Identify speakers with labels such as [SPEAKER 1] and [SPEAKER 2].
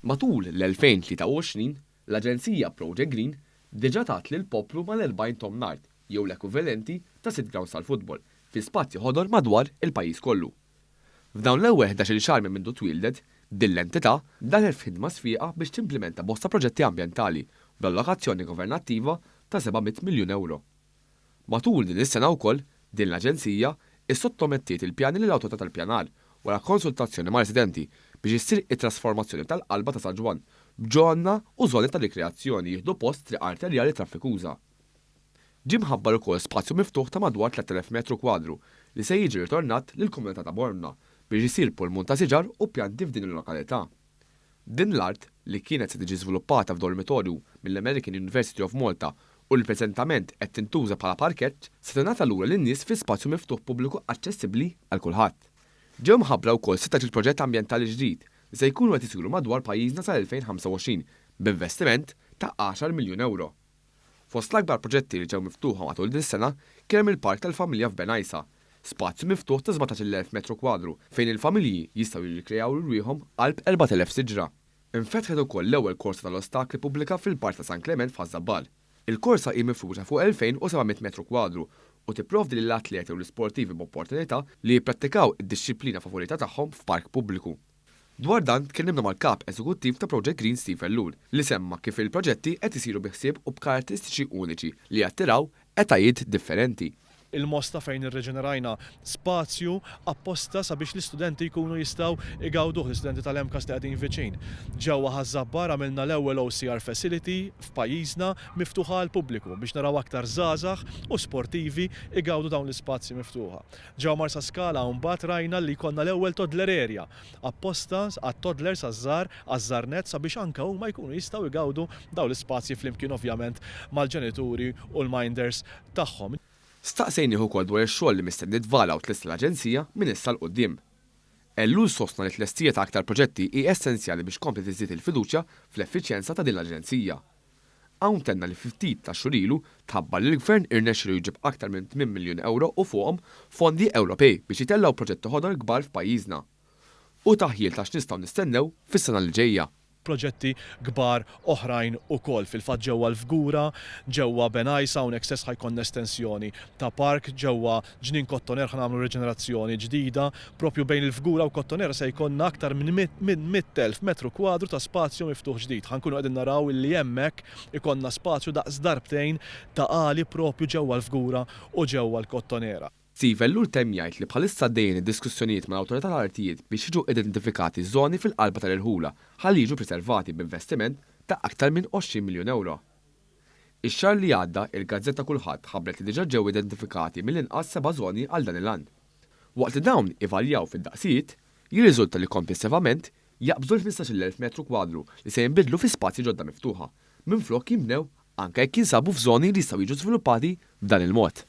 [SPEAKER 1] Matul l-2023, l-aġenzija Project Green diġà tat lill-poplu mal-40 tomn art, jew l-ekwivalenti ta' sitt grawnds tal-futbol, fi spazji ħodor madwar il-pajjiż kollu. F'dawn l-ewwel ħdax-il xahar minn mindu twieldet, din l-entità daħlet f'ħidma sfieqa biex timplimenta bosta proġetti ambjentali, bl-allokazzjoni governattiva ta' 700 miljun ewro. Matul din is-sena wkoll, din l-aġenzija issottomettiet il-pjani lill-Awtorità tal-Ippjanar wara konsultazzjoni ma' residenti biex issir it-trasformazzjoni tal-qalba ta' San Ġwann b'ġonna u żoni ta' rikreazzjoni jieħdu post triq arterjali traffikuża. Ġie mħabbar ukoll spazju miftuħ ta' madwar 3,000 metru kwadru li se jiġi ritornat lill-komunità ta' Bormla biex isir pulmun ta' siġar u pjanti f'din il-lokalità. Din l-art, li kienet se tiġi żviluppata f'dormitorju mill-American University of Malta u li preżentament qed tintuża bħala parkett, se tingħata lura lin-nies fi spazju miftuħ pubbliku aċċessibbli għal kulħadd. Ġew mħabbra wkoll sitt għax il-proġett ambjentali ġdid li se jkunu qed isiru madwar pajjiżna sal-2025 b'investiment ta' għaxar miljun ewro. Fost l-akbar proġetti li ġew miftuħa matul din is-sena kien hemm il-Park tal-Familja f'Ben Għajsa, spazju miftuħ ta' sbatax-il elf metru kwadru fejn il-familji jistgħu jirrikrejaw lilriehom qalb erbat elef siġra. Infetħet ukoll l-ewwel korsa tal-ostakli pubblika fil-Park ta' San Klement f'Ħaż-Żabbal. Il-korsa hi mifruxa fuq 2,700 metru kwadru u tipprovdi lill-atleti u l-isportivi b'opportunità li jipprattikaw id-dixxiplina favorita tagħhom f'park pubbliku. Dwar dan tkellimna mal-Kap Eżekuttiv ta' Project Green Steve Ellul li semma kif il-proġetti qed isiru bi ħsieb u b'karatteristiċi uniċi li jattiraw etajiet differenti. Il-Mosta fejn
[SPEAKER 2] irriġenerajna spazju apposta sabiex l-istudenti jkunu jistgħu jgawduh, l-istudenti tal-MCAST li qegħdin viċin. Ġewwa Ħaż-Żabbar għamilna l-ewwel OCR facility f'pajjiżna miftuħa għall-pubbliku biex naraw aktar żgħażagħ u sportivi jgawdu dawn l-ispazji miftuħa. Ġewwa Marsaskala hawn mbagħad rajna li jkollna l-ewwel toddler area, apposta għat-toddlers għaż-żgħar, għaż-żgħarnett sabiex anke huma jkunu jistgħu jgawdu dawn l-ispazji flimkien ovvjament mal-ġenituri u l-minders tagħhom. Staqsejnih
[SPEAKER 1] ukoll dwar ix-xogħol li mistenni tvala u tlesta l-Aġenzija minn issa 'l quddiem. Ellul sostna li t-tlestija ta' aktar proġetti hi essenzjali biex tkompli tiżdied il-fiduċja fl-effiċjenza ta' din l-Aġenzija. Hawn tenna li fi ftit ta' xhur ilu tħabbar li l-Gvern irnexxielu jġib aktar minn tmien miljun ewro u fuqhom fondi Ewropej biex jitellgħu proġetti ħodor kbar f'pajjiżna. Hu taħjir ta' x'nistgħu nistennew fis-sena li ġejja. Proġetti
[SPEAKER 2] kbar oħrajn ukoll fil-fatt ġewwa l-Fgura, ġewwa Benajsa, hawnhekk stess ħa jkollna estensjoni ta' park, ġewwa Ġnien Kottoner ħa nagħmlu riġenerazzjoni ġdida, proprju bejn il-Fgura u Kottoner se jkollna aktar minn minn 100,000 metru kwadru ta' spazju miftuħ ġdid. Ħa nkunu qegħdin naraw illi hemmhekk ikollna spazju daqs darbtejn ta' għali proprju ġewwa l-Fgura u ġewwa l-Kottonera. Steve Ellul temm
[SPEAKER 1] jgħid li bħalissa għaddejjin id-diskussjonijiet mal-Awtorità tal-Artijiet biex jiġu identifikati żoni fil-qalba tal-irħula ħalli jiġu priservati b'investiment ta' aktar minn 20 miljun ewro. Ix-xahar li għadda, il-gazzetta Kulħadd ħabbret li diġà ġew identifikati mill-inqas seba' żoni għal dan il-għan. Waqt li dawn ivarjaw fid-daqsijiet, jirriżulta li komplessivament jaqbżu l-ħmistax-il elf metru kwadru li se jinbidlu fi spazji ġodda miftuħa, minflok jinbnew, anke jekk jinsabu f'żoni li jistgħu jiġu żviluppati b'dan il-mod.